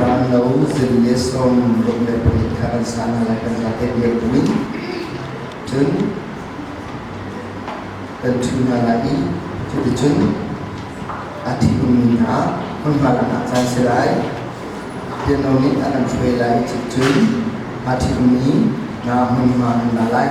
Rallo zing le sawm ruk le pahnih kha kan sa hna lai kan zate biak buin cun kan ṭhu hna lai i cuticun a ṭhingmi hna hmunhma lakah caan si lai. Piano nih a kan hruai lai i cun aa ṭhingmi hna hmunhma an la lai.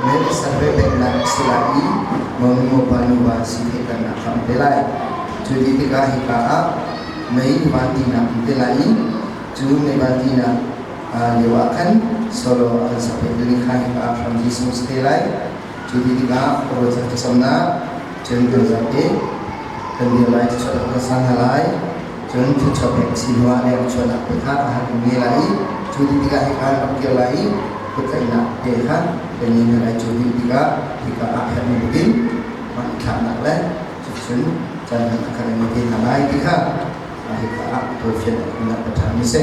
Register ve pengnak a si lai i monu-nupa nuva si theihternak kha an pe lai. Cu ti tikah hika ah mei nuva tinak an pe lai i cu neva tinak lio ah khan solo a kan sakpek te ding kha hika ah Khrang Jesus te lai. Cu ti tikah khuaruahchan thlacamnak cun kan zate kan dir lai cucu a kan sa hna lai. Cun thluachuah pek a si hnuah lemchuannak pe kha a han nge lai i cu ti tikah hi kha an rak kir lai i kutlaihnak te kha kannih hna lai cu him tikah hika aa khat ning in hmanthlaknak le cucun caan hman a khat ning te hna lai ti kha hika ah tualfian in a ṭhami a si.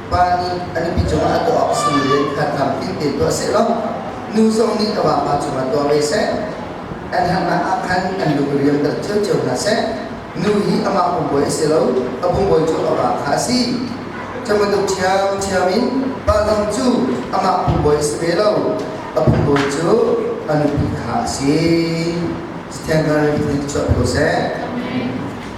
pa nih a nupi cungah a tuah awk si loin kha tham fiang tein tuah seh law nu zong nih a vapa cungah tuah ve seh an harnak ah khan an lungriam dal cio hna seh nu hi amah pumbuai a si lo a pumbuai cu a va kha a si camaduk thiam thiam in pa zong cu amah pumbuai a si ve lo a pumbuai cu a nupi kha a si Sithengkar in chuah ko seh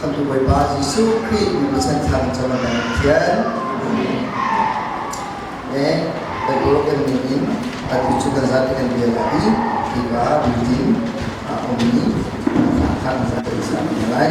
Khamhtu Bawipa Jesuh Khrih nupi chan thang cungah kan thian. Ne, Bible kan ning in atu cu kan zat kan bia la i hipa building a ummi thang zat kan sang lai.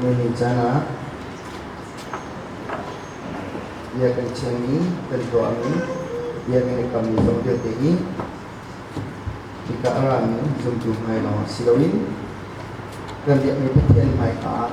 Nihin caan ah bia kan chiami, kan tuahmi, bia kan i kammi zong vialte hi hika a rami zumtu hmai lawng ah si loin kan biakmi Pathian hmai ah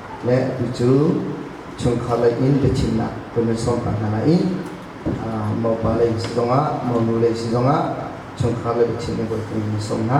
le atu cu chungkhar lei in biachimnak kan van sawm pah hna lai i mopa lei si zongah monu lei si zongah chungkhar lei biachim in kan van sawm hna.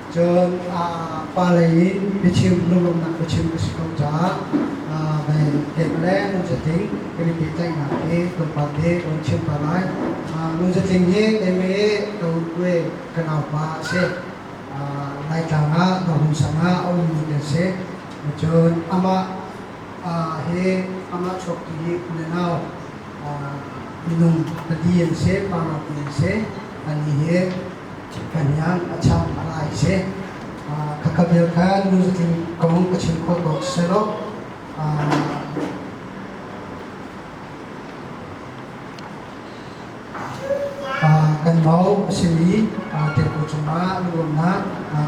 Cun pa lei in biachim, lunglawmhnak biachim ka si ko caah mei pek le ngun zatling kan i pehtlaihnak hi tlawmpal te kan chim pah lai. Ngun zatling hi Mei Kawlkwe ka naupa a si. Laitlang ah Nohun sang ah a ummi kan si. Cun amah hi amah chuaktu hi u le nau minung pali an si, pa lawng an si. Ani hi Thiphanian a chang a lai se khakabel kha nu zatin kong ka chim kho ko selo kan mau a simi tempo cungah nuamnak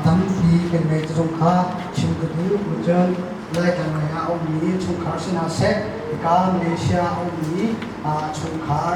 tampi kan mei cazung kha chim ka du kucun lai kan mei ah ummi chungkhar sinah sek ka Malaysia ummi chungkhar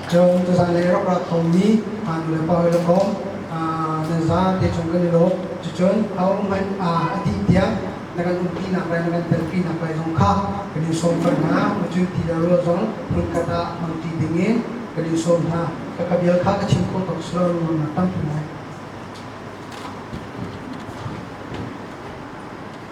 Cun cazai le rak ra thawng mi hngaknu le pa hoi le kom nan za te chung kan i lawm cucun ahohmanh a dih tiang na kan umpinak lai na kan telpinak lai zong kha kan in sawm cang hna cun ti le rual zong hmunkhat ah mangti ding in kan in sawm hna ka ka bial kha ka chim khawh tuk si lo rual na tampi lai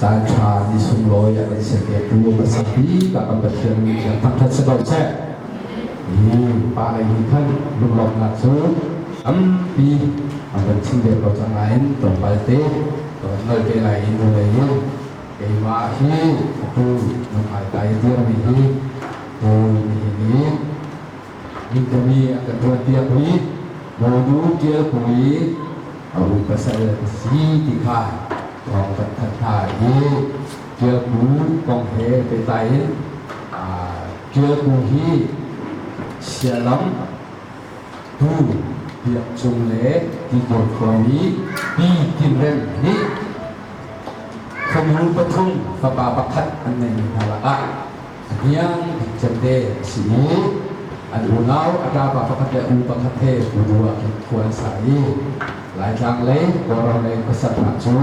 Caan ṭha ni sunglawi a kan serpitu pasal bik ah kan Pathian nih cun thangṭhat si ko seh. Pa lei nih khan lunglawmhnak cu tampi an kan chim ve ko cang nain tlawmpal te ka van ngal te lai i nulei in keimah hi fapa nung ai tai dirmi hi Paul nihin i Mikami a ka tuanpiak mi Bodu Tial Pui a ru pasal ka si ti kha thawng kan thanh hna i Tial Pu kong he pehtlai in Tial Pu hi sialam tu biak cung le tibual kong i pi tinreng nih khomru pathum fapa pakhat an ngeimi hna lakah A hniang bik cemte a si mu. An unau a ṭapa pakhat le u pakhat he ulu ah khin khua an sa i Laitlang lei Kawlram lei pasarha cu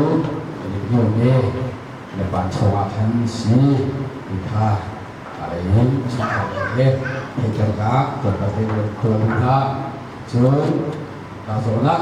an i hniam i na pancho ah khan si ti kha aa lei in a chungkhar he hei tlangah tlawmpal te khualu hna cun kaa zawn ah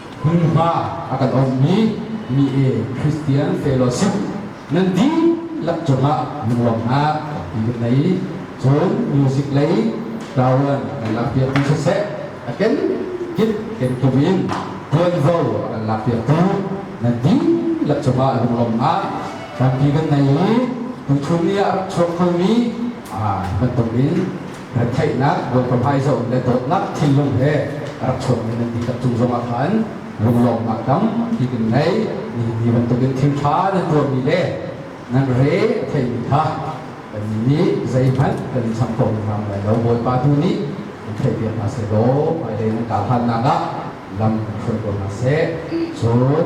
hmunhma a kan onhmi mi e Christian te law sim nan dihlak cungah nuam hna ti kan nei cun music lei tawan kan lak piak ti siseh a ken kip ken tum in tuanvo a kan lak piak tu nan dihlak cungah lunglawm hna tampi kan nei i tuchun ni ah rak chuak khomi ah bantuk in Retheihnak, compromise le dawtnak thinlung he a rak chuakmi nan dihlak cung zongah khan lunglawmnak tampi kan ngei. Nihin ni bantukin thilṭha nan tuahmi le nan re a theimi kha kannih nih zeihmanh kan i cham ko ngam lai lo. Bawipa tu nih kan theihpiak hna seh law hmailei nan kar hlannak ah lam kan hruai ko hna seh. Cun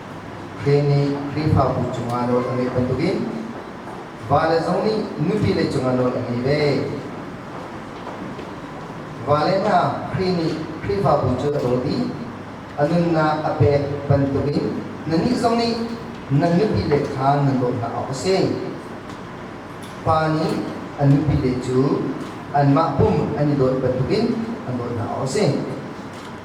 Khrih nih Khrihfabu cungah nawl a ngeih bantukin vale zong nih nupile cungah nawl a ngei ve. Vale hna Khrih nih Khrihfabu cu a dawl i a nunnak a pek bantukin nannih zong nih nan nupile kha nan daw hna awk a si. Pa nih a nupile cu anmah pum an i dawt bantukin an daw hna awk a si.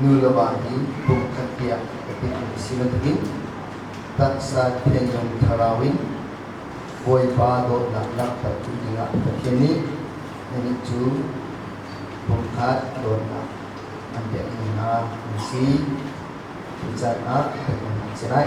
nu le va hi kum khat tiang ka titmi si bantukin taksa thenawm thlarau in Bawipa dawtnak langhter ding dingah Pathian nih anih cu pumkhat dawtnak an pekmi hna an si. Cu canah peknak si lai.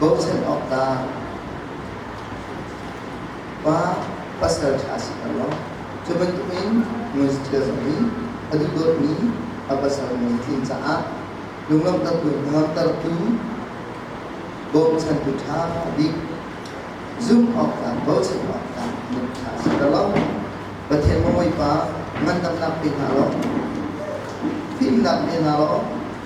bochan awk tah pa pasal ṭha si ko law cu bantukin nunthil zong in a dudawtmi a pasal mi tlin caah lungamtertu bochantu ṭha bik zumh awkah bochan awkah mit ṭha si ko law Pathian mawipa ngandamnak pe hna law fimnak pe hna law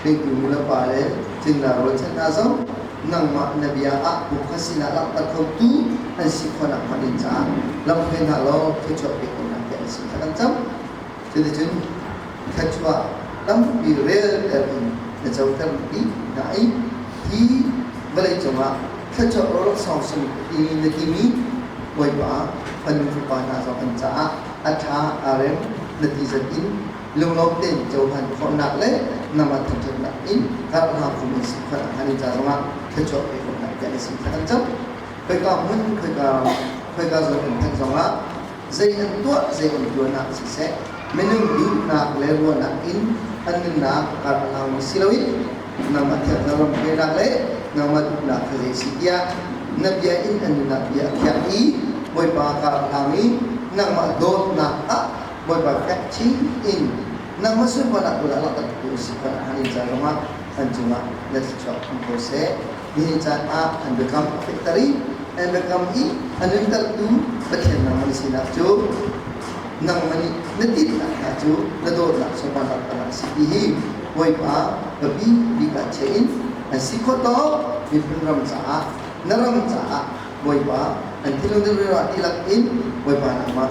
hringtu nulepa le tlinglai rualchan hna zong nangmah na bia ah puk ka sinah langhter khotu an si khawhnak hnga ding caah lam hoi hna law thluachuah pe ko hna tiah na sin kha kan cam cuticun thluachuah tampi relter in na coter ti na ei hi vawlei cungah thluachuah rawlok sawngsum i na timi bawipa fanu fapa hna zong an caah a tha a rem na ti zat in lunglawm tein cohlan khawhnak le nama thangṭhatnak in karhlang kum in sikfal a hman i ca zongah thluachuah pe khawhnak tiang in sikfal an cang. Khoika hmun, khoika, khoika zong kan thanh zongah zei an tuah, zei an tuahnak siseh, minung duhnak le ruahnak in an nunnak karhlang si loin nangmah thiangthar lamhruainak le nangmah duhnak kha zei si tiah na bia in an nunnak bia a khiah i Bawipa karhlang i nangmah dawtnak ah Bawipa fek chin in nangmah sunparnak tu le a langhtertu a si kha na han in caan zongah an cungah na thluachuak hmu ko seh. Nihin caan ah an biakam a fehter i an biakam i a nuntertu Pathian nangmah na sinak cu nangmah nih na tihnak hna cu na dawtnak sunparnak tangah a si ti hi Bawipa ka bi bik ah chia in an si khawh tawk miphun ram caah na ram caah Bawipa an thinlung na rira dihlak in Bawipa nangmah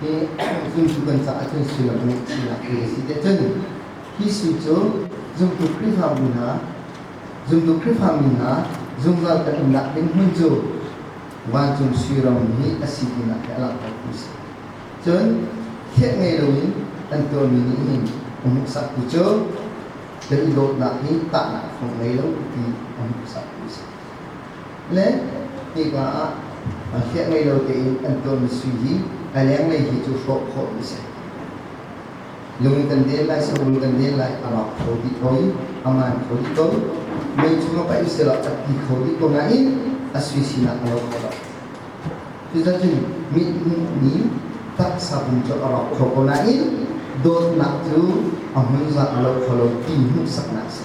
hi zumtu kan caah cun sullam a ngeih chinnak ti a si te cun hi su cu zumtu Khrihfabu hna zumtu Khrihfami hna zungzal kan umnak ding hmun cu vancung sui ram hi a si tinak hi a langhtertu a si cun thlet ngei loin an tuahmi nih hin a hmuhsaktu cu kan i dawtnak hi tahnak a fong ngei lo ti a hmuhsaktu a si le hnika ah hliah ngei lo tein an ṭuanmi sui hi a lenglei hi cu hrawh khawhmi a si. Lung kan den lai, sarum kan den lai, a rak kho dih ko i a man kho dih ko. Mei chung ah paih usihlaw a ti kho dih ko nain a sui sinak a lo kho lo. Cuticun mithmuhmi taksa pum cu a rawk kho ko nain dawtnak cu a hmun zat a lo kho lo ti hmuhsaknak a si.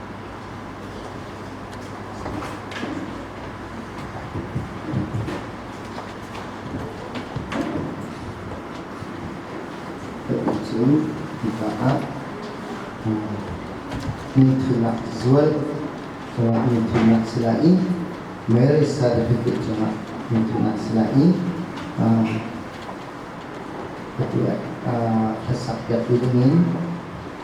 cu hika ah mi thihnak zual cungah mi thihnak si lai i marriage certificate cungah mi thihnak si lai i ati hlasak piak ding in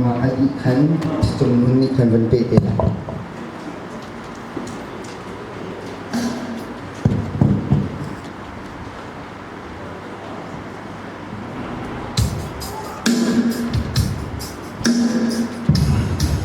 Mah a dih khan ṭhitum hmun nih khan van peh te lai.